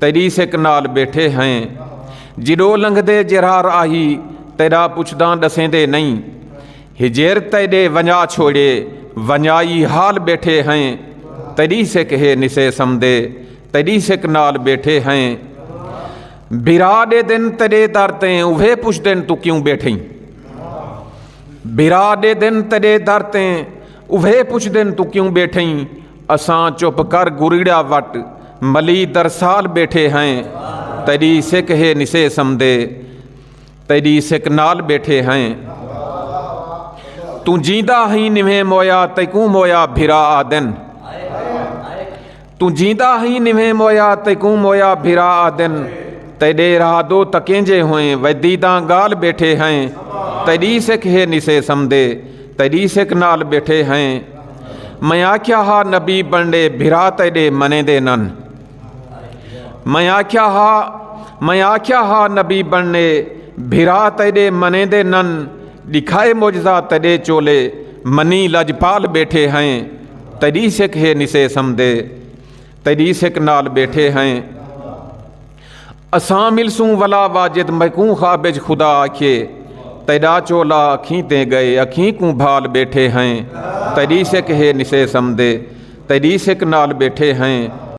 تیری سک نال بیٹھے ہیں جڑو لنگ دے جرار آہی تیرا پچھداں ڈسیں دے نہیں ہجیر تیرے ونجا چھوڑے ونجائی حال بیٹھے ہیں تیری سک ہے نسے سمدے تیری سک نال بیٹھے ہیں برا دے دن تیرے در تیں اوہے پچھ دن تو کیوں بیٹھیں برا دے دن تیرے در تیں اوہے پچھدن تو کیوں بیٹھیں اساں چپ کر گریڑا وٹ ملی درسال بیٹھے ہیں تیری سکھ ہے نسے سمدے تیری سکھ نال بیٹھے ہیں تو جیندا ہی نویں مویا تیکوں مویا بھرا آدن توں جیندا ہئیں نویں مویا تیکوں مویا بھرا آدن تیڈے را دو تکینجے ہوئیں ویدیداں گال بیٹھے ہیں تیڈی سکھ ہے نسے سمدے تیڈی سکھ نال بیٹھے ہیں میں آکھیا ہا نبی بنڈے بھرا تیڈے منے دے نن میں آکھیا ہا میں آکھیا ہا نبی بنڈے بھرا تیڈے منے دے نن ڈکھائے معجزہ تڈے چولے منی لجپال بیٹھے ہیں تیری سکھ ہے نسے سمدے تیری سکھ نال بیٹھے ہیں اساں ملسوں ولا واجد میکوں خابج خدا آکھے تیرا چولا اکھیں تے گئے اکھیں کوں بھال بیٹھے ہیں تیری سکھ ہے نسے سمدے تیری سکھ نال بیٹھے ہیں